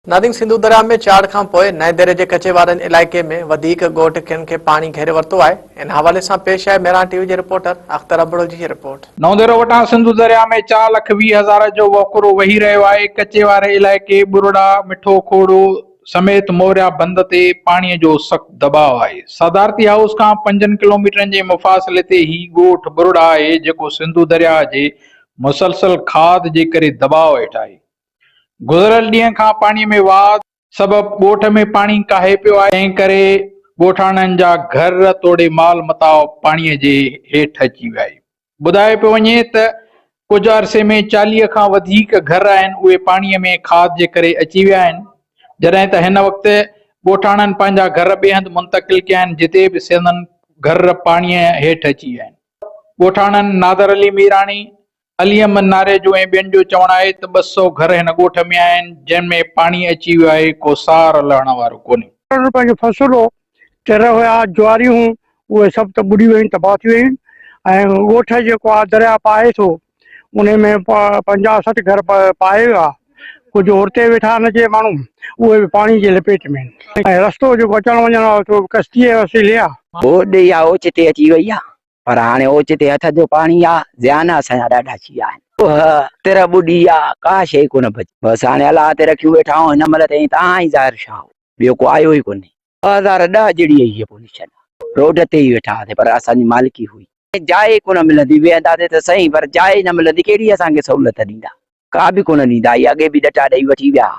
نارنگ سنڌو درياهه ۾ چاڙهه کان پوء نئين ديري جي ڪچي وارن علائقي ۾ وڌيڪ ڳوٺ کن کي پاڻي گهيري ورتو آهي ان حوالي سان پيش آهي ميران ٽي وي جي رپورٽر اختر ابڙو جي هي رپورٽ. نئون ديرو وٽان سنڌو درياهه ۾ چار لک ويهه هزار جو وهڪرو وهي رهيو آهي ڪچي واري علائقي ٻرڙا، مٺو کوڙو سميت موريا بند تي پاڻي جو سخت دٻاء آهي صدارتي هائوس کان پنجن ڪلوميٽرن جي مفاصلي تي هي ڳوٺ ٻرڙا آهي جيڪو سنڌو درياهه جي مسلسل کاڌ جي ڪري دٻاء هيٺ آهي گذريل ڏينهن کان پاڻي ۾ واڌ سبب ڳوٺ ۾ پاڻي ڪاهي پيو آهي، تنهن ڪري ڳوٺاڻن جا گهر توڙي مال متاع پاڻي جي هيٺ اچي ويا آهن، ٻڌايو پيو وڃي ته ڪجهه عرصي ۾ چاليهه کان وڌيڪ گهر آهن اهي پاڻي ۾ کاڌ جي ڪري اچي ويا آهن، جڏهن ته هن وقت ڳوٺاڻن پنهنجا گهر ٻئي هنڌ منتقل ڪيا آهن جتي به سندن گهر پاڻي هيٺ اچي ويا آهن، ڳوٺاڻن نادر علي ميراڻي، علي احمد ناريجو ۽ ٻين جو چوڻ آهي ته ٻه سؤ گهر هن ڳوٺ ۾ آهن، جن ۾ پاڻي اچي ويو آهي، ڪو سار لهڻ وارو ڪونهي. ڪرڻ پنهنجو فصل هو، تر هيا، جواريون هيون، اهي سڀ ته ٻڏي ويون، تباهه ٿي ويون ۽ ڳوٺ جيڪو آهي درياء پاهي ٿو، انهي ۾ پنجاهه سٺ گهر پاهي ويا، ڪجهه هورتي ويٺا آهن جي ماڻهو، اهي به پاڻي جي لپيٽ ۾ آهن ۽ رستو جيڪو اچڻ وڃڻ وارو ٿيو، ڪشتيء جي وسيلي آهي. هوڏ يا اوچتي اچي وئي آهي، پر هاڻي اوچتي هٿ جو پاڻي آ، زيان اسان جا ڏاڍا ٿي ويا آهن. اهه تر ٻڏي آ، ڪا شيء ڪونه بچي. بس هاڻي الله تي رکيون ويٺا آهون، هن مهل تائين تان ۽ ظاهر شاهه، ٻيو ڪو آيو ئي ڪونهي. ٻه هزار ڏهه جهڙي ئي هيء پوزيشن آ. روڊ تي ئي ويٺا هئاسين، پر اسان جي مالڪي هئي. جاء ئي ڪونه ملندي، ويهنداسين ته سهي، پر جاء ئي نه ملندي، ڪهڙي اسان کي سهولت ڏيندا؟ ڪا به ڪونه ڏيندا، اهي اڳي به ڏٽا ڏيئي وٺي ويا ها.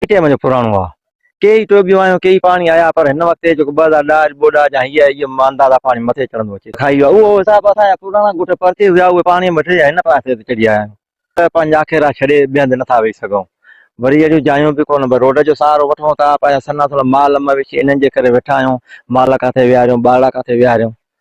پي ٽي ايم جو پراڻو آ. ڪي ئي ٽوٻيون آيون ڪي ئي پاڻي آيا پر هن وقت جيڪو ٻه هزار ڏهه اڄ ٻوڏ آ جا هيء هيء انداز آ پاڻي مٿي چڙهندو اچي ٿو هيء اهو حساب اسان جا پراڻا ڳوٺ پرتي هيا اهي پاڻي مٿي جا هن پاسي تي چڙهي آيا آهيون ته پنهنجا اکيرا ڇڏي ٻئي هنڌ نٿا ويهي سگهون وري اهڙيون جايون به ڪونه پر روڊ جو سهارو وٺون ٿا پنهنجا سنا سنا مال مويشي انهن جي ڪري ويٺا آهيون مال ڪاٿي ويهاريون ٻارڙا ڪاٿي ويهاريون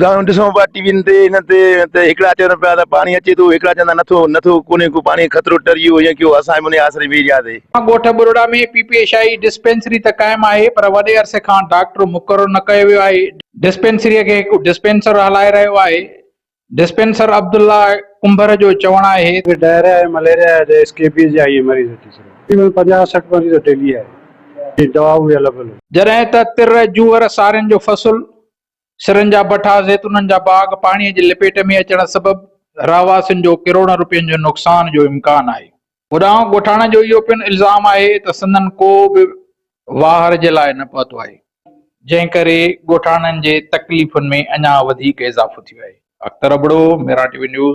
ڳالهيون ڏسون پيا ٽي وين تي هن تي ته هڪڙا چون پيا ته پاڻي اچي ٿو هڪڙا چون ٿا نه ٿو نه ٿو ڪونهي ڪو پاڻي خطرو ٽري ويو هيئن ڪيو اسان به انهي آسري ويهي رهياسي. ڳوٺ ٻرڙا ۾ P P H I dispensary ته قائم آهي پر وڏي عرصي کان ڊاڪٽر مقرر نه ڪيو ويو آهي، ڊسپينسريء کي هڪ ڊسپينسر هلائي رهيو آهي، ڊسپينسر عبدالله ڪنڀر جو چوڻ آهي. هتي ڊائريا ۽ مليريا جا ته اسڪيبيز جا ئي مريض اچي سگهن ٿا، تقريبن پنجاهه سٺ مريض ڊيلي آهي جن جي دعا اوهي البل هوندي. جڏهن ته تر، جوئر، سارين جو فصل سرن جا بٺا، زيتونن جا باغ پاڻي جي لپيٽ ۾ اچڻ سبب رهواسين جو ڪروڙن رپين جو نقصان جو امڪان آهي. هوڏانهن ڳوٺاڻن جو اهو پڻ الزام آهي ته سندن ڪو به واهر جي لاء نه پهتو آهي، جنهن ڪري ڳوٺاڻن جي تڪليفن ۾ اڃا وڌيڪ اضافو ٿيو آهي. Akhtar Abro, Mehran T V news.